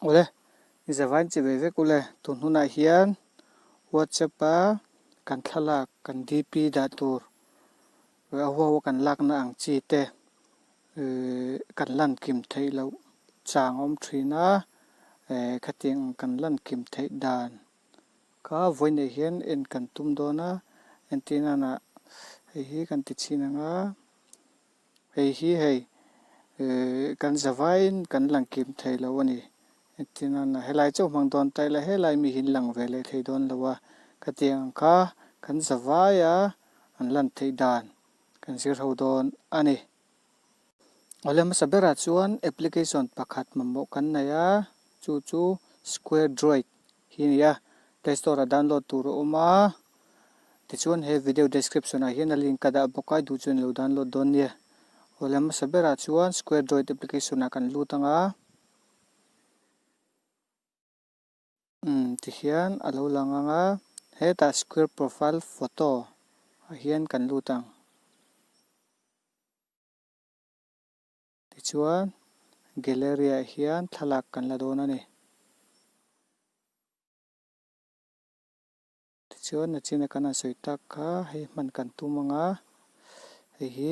Awle, i zavain che ve vek ule, tun hunah hian WhatsApp a kan thlalak kan DP dah tur a huahua kan lakna ang chi te kan lan kim theih loh chang a awm thin a, khatiang ang kan lan kim theih dan Ka vawi neih hian en kan tum dawn a, entir nana hei hi kan ti chhin ang a, hei hi hei kan za vaiin kan lang kim thei lo a ni. Entir nana helai chauh hmang dawn ta ila helai mi hin lang ve leh thei dawn lo a, ka ti ang ang kha kan za vaia an lan theih dan kan zir ho dawn a ni. Awle hmasa berah chuan application pakhat mamawh kan nei a, chu chu Square Droid hi a ni a, Play Store-ah download tur a awm a, tichuan he video description-ah hian a link ka dah bawk a, a duh chuan i lo download dawn nia. Awle hmasa berah chuan Square Droid application-ah kan lut ang a. Umm tihian a lo lang ang a, hetah square profile photo ah hian kan lut ang. Tichuan gallery ah hian thlalak kan la dawn a ni. Tichuan a china kan han sawi tak kha hei hman kan tum ang a, hei hi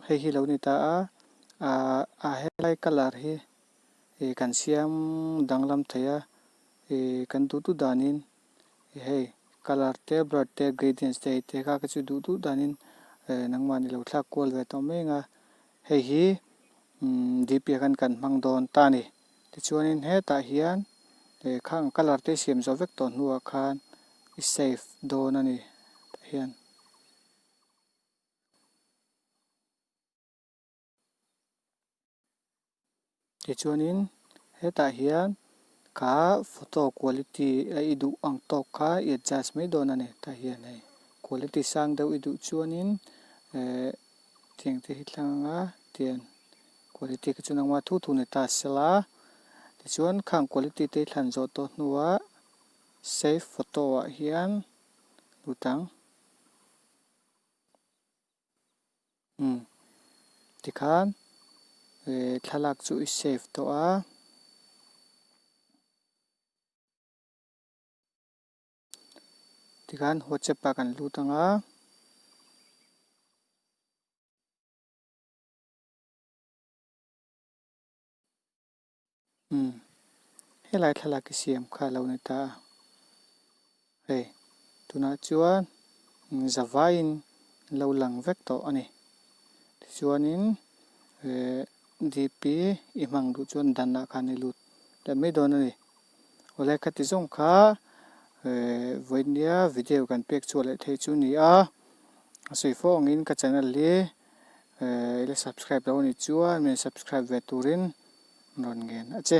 hei hi lo ni ta a, ah ah helai colour hi ih kan siam danglam thei a, ih kan duh duh danin ih hei colour te blur te gradients te te kha ka chu duh duh danin eh nangmahni lo thlak kual ve tawh mai ang a, hei hi umm DP ah khan kan hmang dawn ta a ni. Tichuanin hetah hian lehkhang colour te siam zo vek tawh hnuah khan i save dawn a ni tah hian. Tichuanin hetah hian ka photo quality a i duh ang tawk kha i adjust mai dawn a ni tah hian hei. Quality sang deuh i duh chuanin eh. Cheng te hi tlang a tian quality khi chu nangma thu thu neta a sel a tichuan khang quality te hi thlan zawh tawh hnuah save photo ah hian lut ang umm tikhan eh thlalak chu i save tawh a. tikhan whatsapp ah kan lut ang a. Hmm. Helai thlalak i siam kha lo ni ta a. Hei, tunah chuan zavaiin lo lang vek tawh a ni. Tichuanin eh, DP i hmang duh chuan danah khan i lut leh mai dawn a ni. Awle ka ti zawng kha vawinia video kan pek chhuah leh thei chu ni a, a sawi fo angin ka channel hi i la subscribe lo ani chuan min subscribe ve turin min rawn ngen a che.